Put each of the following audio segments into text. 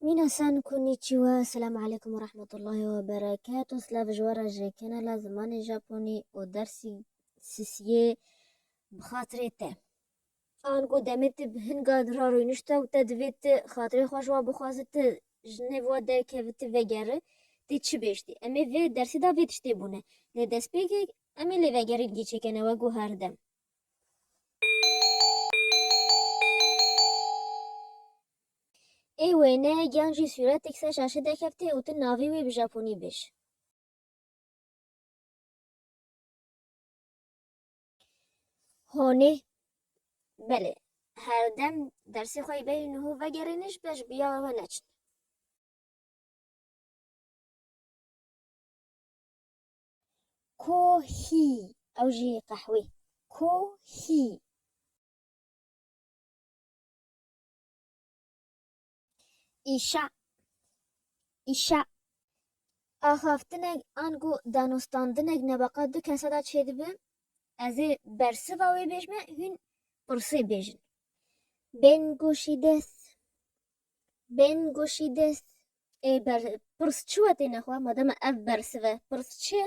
Nîna san Konnichiwa, Selam Aleykum û Rahmetullahi we Berekatu, Silav ji we re ji kanala Zimanê Japonî û dersî sisiyê bi xatirê te. Ango demê te bi hin gal ra rûnişte û te divê ti xatirê xwe ji wan bixwaze ti ji nêv wan derkevî ti vegeri tê çi bêjtî. Em ê vê dersê de vê tiştê bûne lê destpêkek em ê lê vegerîn gîçekene wek û herdem. Ê wêne yan jî sûretek ser şaşe derkevte û tu navê wê bi japonî bij. Hone, Belê, herdem dersê xwe yê bêhî niho vegerîne ji ber ji bi ya we we neçin. Kohî, ew jî qehwê, kohî. Îşa Îşa Axaftinek ango danostandinek nebeqa du kesa de çêdibe, ez ê bersiva wê bêjme hûn pirsê bêjin. Bên goşî des Bên goşî des Ê ber pirs çi we têne xwe mademe ev bersive pirs çi ye?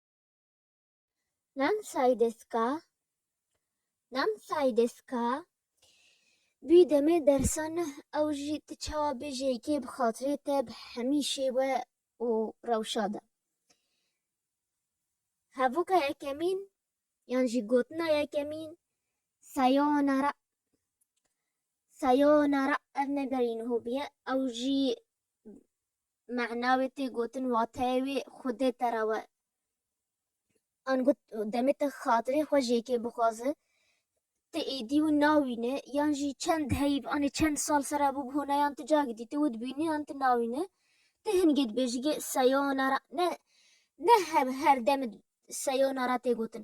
Nam Saydeska Nam Saydeska Bî demê dersa neh ew jî tu çawa bêjî yekê bi xatirê te bi hemî şêwe û rewşa de. Hevoka yekemîn yan jî gotina yekemîn Sayonara Sayonara ev ne gerîn hobî ye ew jî mehna wê tê gotin wateyê wê xwedê te re we. Ango demê te xatirê xwe ji yekê bixwaze, tu êdî wî nawîne yan jî çend heyv anê çend sal ser e bû bi honayan tu cagî dîtî wê dibînî yan tu nawîne. Ti hingê dibê ji gê seyona re ne ne her demê seyona re tê gotin.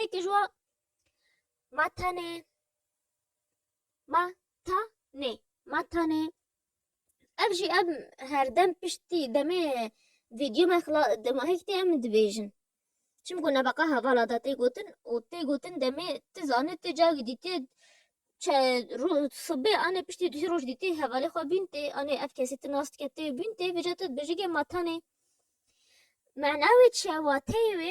Ê ki jwa ma tane ma ta ne ma tane ev jî em herdem piştî demê vîdyo me xila demahek tê em dibêjin. Çimku nebeqa hevala da tê gotin û tê gotin demê ti zanê ti cavî dîtî çe ro sibê anê piştî du roj dîtî hevalê xwe bîn tê anê ev kesî ti nas dike tê bîn tê vêca tu dibêjî ke ma tane. Mena wê çi ye wateyê wê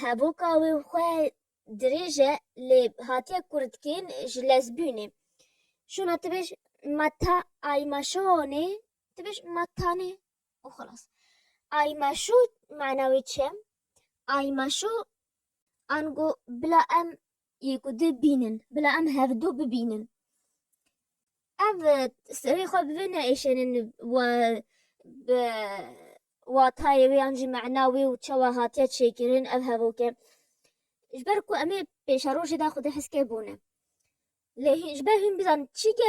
heboka wê xwe dirêj e lê hatiye kurtikên ji lezbûnê. Şona tu bêj ma ta ay ma şonê tu bêj ma tanê û xilas. Ay ma şo mana wê çi ye? Ay ma şo ango bila em yê ku di bînin bila em hevdu bibînin. Ev serê xwe bi vê neêşenin wa bi watayê wê an jî mena wê û çawa hatiye çêkirin ev hevoke. Ji ber ku emê pêşerojê de xwedî heskê bûne. Lê hîn ji ber hîn bizan çîke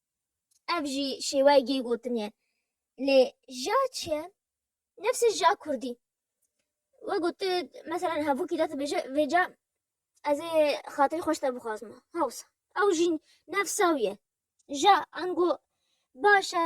Ev jî şêweyegê gotin ye. Lê ja çi ye? Nefsê ja kurdî. We got tu meselen hevokî te dibêje vê ca ez ê xatirê xweş te bixwazim. Hewsa. Ew jî nefsa wî ye. Ja ango baş e.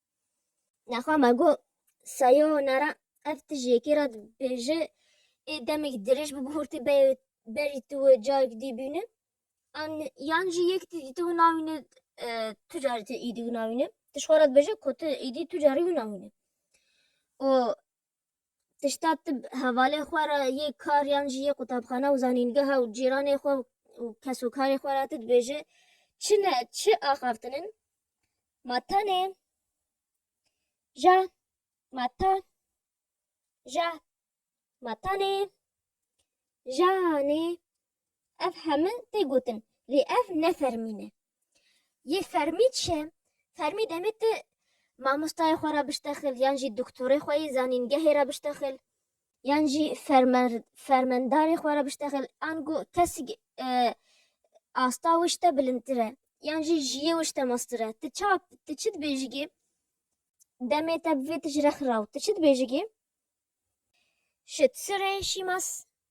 Nexwa me got, Sayonara, ev tije yekê re dibêje ê demekî dirêj bi bihurtî beyê berî tu û cayekî dî bîne an yan jî yek tî dîtibû navîne tu carî tu êdî wina wîne tu ji xwe re dibêje ku tu êdî tu carî wina wîne û tişta tib hevalê xwe re yê kar yan jî yê qutabxana û zanîngeha û cîranê xwe û kesokarê xwe re ti dibêje çi ne çi axaftin in ma tenê ja ma ta ja ma tanê janê Ev heme tê gotin lê ev ne fermî ne. Yê fermî çi ye? Fermî demê tu mamostayê xwe re biştexil yan jî doktorê xwe yê zanîngehê re biştexil yan jî fermendarê xwe re biştexil an ku kesik asta wê ji te bilindtir e yan jî jiyê wê ji te meztir e. Tu çawa tu çi dibêjigê demê te bi vê tu ji re xiraw tu çi dibêjigê? Şit, sirê, şîmas.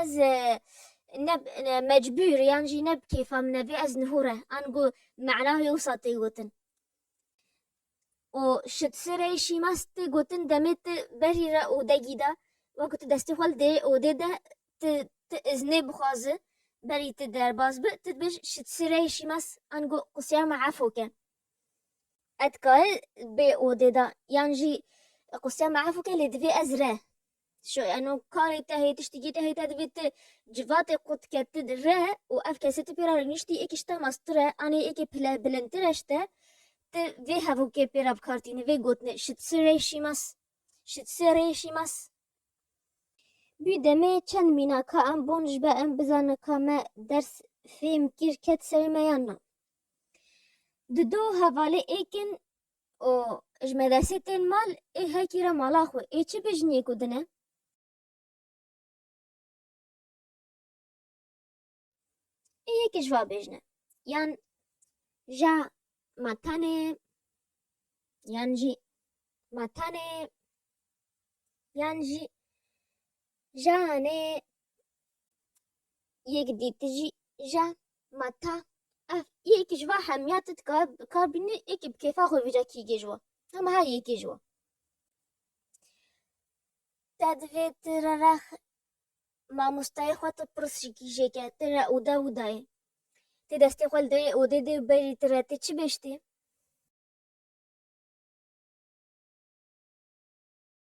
Ez ne mecbûr yan jî ne bi kêfa min e vê ez nihûre an ku mena wisa tê gotin. û şitserê şîmas tê gotin demê ti berî re û degî de wek tu destê xwe li dê odê de ti ti iznê bixwazi berî ti derbas bi ti dibêj şitserê şîmas an ku qûseya me efo ke. Ez dikarim bê odê de yan jî qûseya me efo ke lê divê ez re. Şo eno karê te hê tiştikî te hê te divê ti civatê qut ke ti re û ev kesê ti pêra rêniştî êkê ji te mastire anê êkê pile bilindtire ji te ti vê hevokê pêra bikartînî vê gotinê şit si rê şîmas şit si rê şîmas. Bî demê çend mîna ka em bon ji be em bizane ka me ders fêm kir ket serê me yan na. Di do hevalê êkin û ji medresê tên mal ê hekî re mala xwe ê çi bêjiniyê ku din e? Ê yekê ji va bêjine yan ja ma tenê yan jî ma tenê yan jî ja anê Yek dî tu jî je ma ta ev yekî ji va hemiya tu dikar bînî yekî bi kêfa xwe vîja kî gê ji we. Hema her yekî ji we. Te divê tu re re mamosteyê xwe tu pirs ji kîjêke tu re oda widayê. Ti destê xwe li derê odê dê berî tu re ti çi bê ji tê?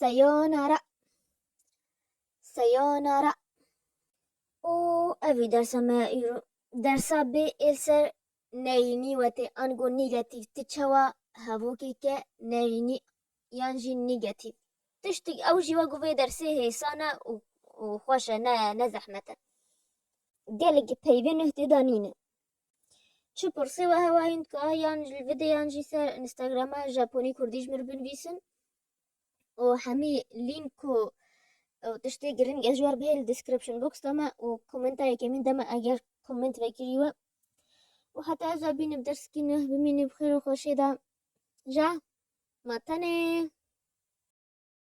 Sayonara. Sayonara. û ev ê dersa me îro. Dersa bê êl ser neyînî wete ango nîgetîv ti çawa hevokeke neyînî yan jî nîgetîv tiştik ew jî wek vê dersê hêsan e û û xweş e ne ne zehmet e. Gelekî peyvê nuh tê danîne. Çi pirsê we hewa hîn dika yan li videyan jî ser Instagrama Japonî Kurdî ji mir binivîsin û hemî lînk ku tiştê giring ez ji wer bihê li description box de me û komenta yekê min de me eger koment vekirî we û heta ez bînib derskî neh bimînib xêr û xweşê de ja ma tenê